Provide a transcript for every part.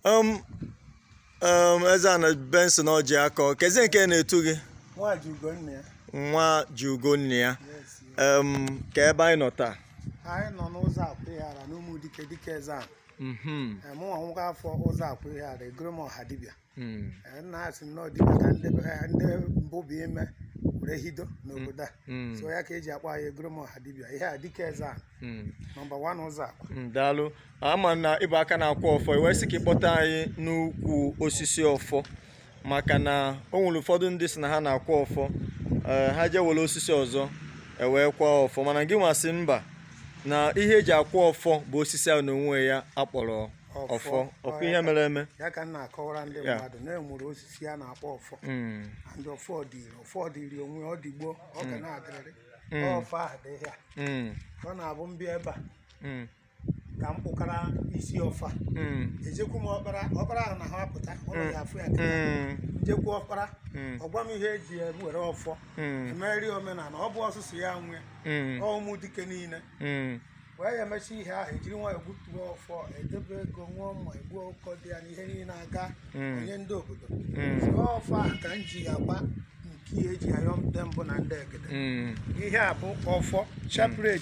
Um, um, Ezeana Benson Ọjịakọ kezi nke na-etu gị nwa ji ugo nna ya nwa ji ugo nna ya yes ya. um, ka ebe anyị nọ taa anyị nọ n'Ụzọakwa Ihiala n'Ụmụdike dike eze a Mhm, mụnwa nwoke afọ Ụzọakwa Ihiala egoro m ọha dibịa mm, Eh, nna asị m nọọ dibịa ka ndị eh, ndị mbụ bụ ime were hido n'obodo a mm. so ya ka eji akpọ anyị egoro m ọha dibịa ihe a dike eze a hmm. nọmba wan Ụzọakwa hmm, daalụ a ma na ị bụ aka na-akwa ọfọ i wee sị ka ị kpọta anyị n'ukwu osisi ọfọ maka na o nwere ụfọdụ ndị si na ha na-akwa ọfọ eh, ha jee were osisi ọzọ ewee kwa ọfọ mana gị nwa sị mba na ihe eji akwa ọfọ bụ osisi ahụ n'onwe ya akpọrọ ọfọ ọ kwa ihe mere eme ya ka m na-akọwara ndị mmadụ na e nwere osisi a na-akpọ ọfọ hmm. ndị ọfọ dịrị ọfọ dịrị onwe ọ dị gboo ọ ga hmm. na-adịrịrị mm. ọfọ a dị ya mm. ọ na-abụ m bịa ebe a mm. ka m gbukara isi ọfọ ejekwu m ọkpara ọkpara ahụ na ha apụta ọ naghị afụ ya kịta m jekwu ọkpara ọ gwa m ihe eji were ọfọ emere omenala ọ bụrọ sọsọ ya nwe Ụmụdike niile nwe ya emecha ihe ahụ ejiri nwayọọ gbutuo ọfọ edebe ego ṅụọ mmanya egbuo ọkụkọ dị ya na ihe niile a ga Mm. enye ndị obodo Mm. so ọfọ ahụ ka m ji akwa nke ya eji ayọ ndị mbụ na ndị egede Mm. ihe a bụ ọfọ chaplet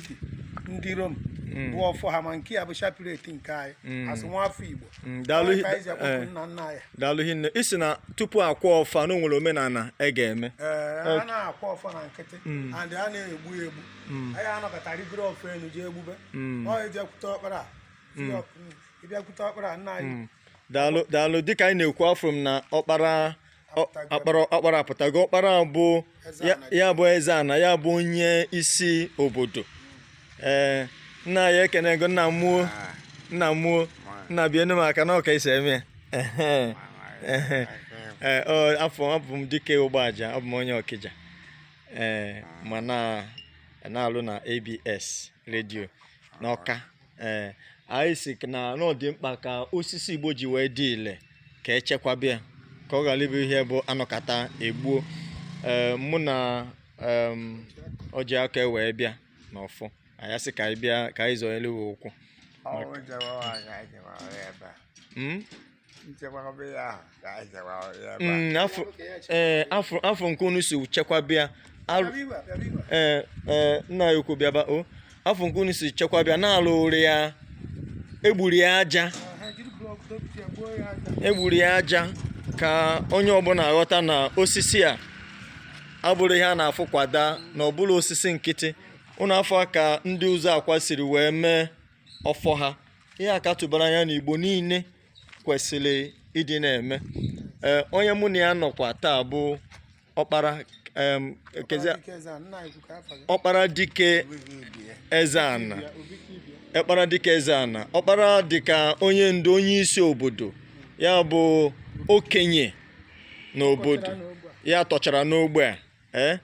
ndị Rome Mm. bụ ọfọ ha ma nke ya bụ chaplet nke anyị Mm. as nwa afọ Igbo Mm, daalụ Ya ka anyị ji akpọku eh. nna nna anyị daalụ hinne ị sị na tupu akwa ọfọ na o nwere omenala e ga-eme ee a na-akwa ọfọ na nkịtị and a na-egbu ya egbu mm. anaghị anọkata rigoro ọfọ elu jee egbube mm. ọ ejekwute ọkpara ị bịakwute ọkpara nna anyị daalụ daalụ dịka anyị na-ekwu afụrụ m na ọkpara apụtago ọkpara bụ ya bụ ezeana ya bụ onye isi obodo ee nna anyị ekene gị o nna mụ o ah. nna mụ o nna bienu m aka na ọ ka esi eme afọ abụ m Dike Ụgbaja abụ m onye Ọkịja ee eh, ma na-alụ na ABS redio n'Ọka ee eh, anyị sị na ọ dị mkpa ka osisi Igbo ji wee dị ile ka echekwaba ya ka ọ ghara ịbụ ihe bụ anọkata egbuo ee eh, mụ na Ọjịakọ wee bịa n'ọfọ anyị sị ka anyị bịa ka anyị zọnyere ụkwụ Mm, eh, afụ nke unu si chekwaba ya eh, eh, nna anyị ukwu bịaba o afụ nke unu si chekwaba ya na alụrụ ya egburu ya aja egburu ya aja ka onye ọbụla ghọta na osisi a abụrọ ihe a na-afụ kwa daa na ọ bụrọ osisi nkịtị unu afụ ka ndị Ụzọakwa siri wee mee ọfọ ha ihe a ka tụbara anya na Igbo niile kwesịrị ịdị na-eme ee onye mụ na ya nọkwa taa bụ ọkpara em, ekezi- ọkpara dịka eze ana ọkpara dịka onye ndu onye isi obodo ya bụ okenye n'obodo ya tọchara n'ogbe a ee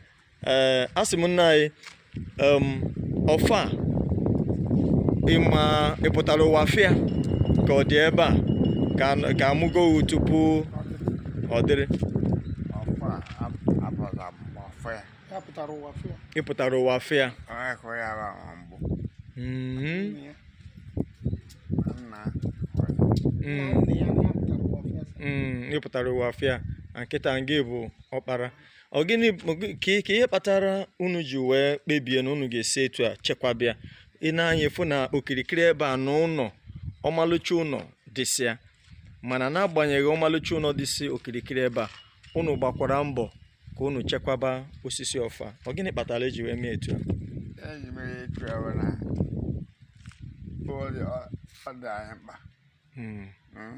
ee asị m nna anyị ọfọ a ịma ị pụtara ụwa fụ ya ka ọ dị ebe a ka a mụgo tupu ọ dịrị ị pụtara ụwa fụ ya ị pụtara ụwa fụ ya kịta ngị bụ ọkpara ọ gịnị ka ihe kpatara unu ji wee kpebie na unu ga-esi etu a chekwaba ya ị nee anya ị fụ na okirikiri ebe a na ụnọ ọmalịcha ụnọ dịsịa mana n'agbanyeghị ọmalịcha ụnọ dịsị okirikiri ebe a unu gbakwara mbọ ka unu chekwaba osisi ọfọ a ọ gịnị kpatara eji wee mee etu a eji mere etu a bụ na ọ dị anyị mkpa hmm. Hmm?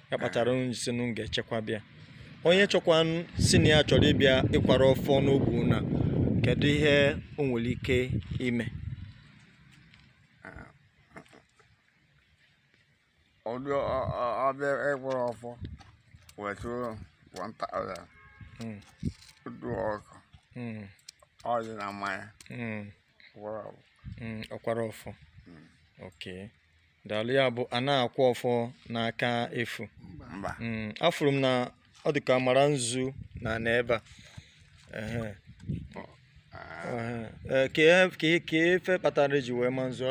ya kpatara anyị sị na m ga-echekwaba ya onye chọkwa n- sị na ya chọrọ ịbịa ịkwara ọfọ n'ogbe na kedu ihe o nwere ike ime ọdụ ọ bịa ịkwara ọfọ wetụrụ 1000 Mm, dụ ọkụ mm, ọjị na mmanya mm, mm, ọ kwara ọfọ mm. okay daalụ ya bụ a na-akwa ọfọ n'aka efu mm, afụrụ m na ọ dị ka a mara nzu na n'ebe a kee ife kpatara eji wee ma nzu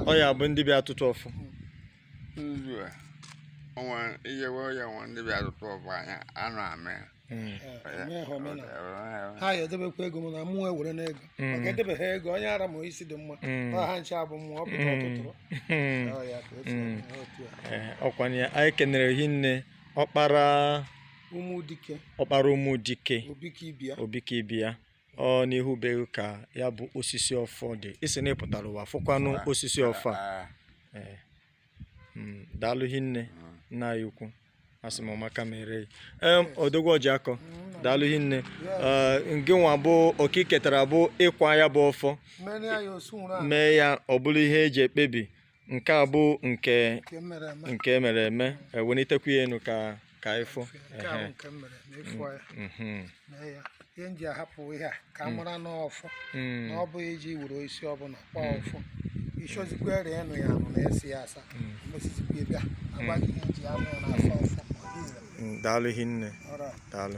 ọ ya bụ ndị bịa atụtụ ọfọ nwa iyewe ya nwa ndị bịa atụtụ ọfọ anya anụ amị Hmm. Eh, ha ya edebekwa ego m na mụ ewere n'ego hmm. maka edebe ha ego onye ara ma isi dị mma hmm. ọ ha nche abụ mụ ọ pụta ọ tụtụrụ ọ kwanye eh, anyị kenere hinne ọkpara Ụmụdike Obikibia ọ n'ihu be ka ya bụ osisi ọfọ dị ị sị na ị pụtara ụwa fụkwanụ osisi ọfọ a ah, ah. Eh. Hmm, daalụ hinne ah. nna anyị ukwu asị m ọ maka mere odogwu Ọjiakọ hmm. daalụ hinne ah, nke nwa bụ oke i ketara bụ ịkwa ya bụ ọfọ mee ya ọ bụrụ ihe eji ekpebi nke a bụ nke e mere eme ewenitekwa ya enu ka ka anyị fụ nke a bụ nke m mere na ịfụ ya Mhm. mee ya ihe m ji ahapụ ihe a ka a mara na ọfọ Mm. na ọ bụghị iji were isi ọbụla kpọọ ọfọ ịchọzikwa were ịnụ ya anụ na esi ya asa mesizikwa bịa agbaghị ihe e ji anụ ya na-asa ọfọ ọ dị ire. Mm, daalụ hinne Alright. daalụ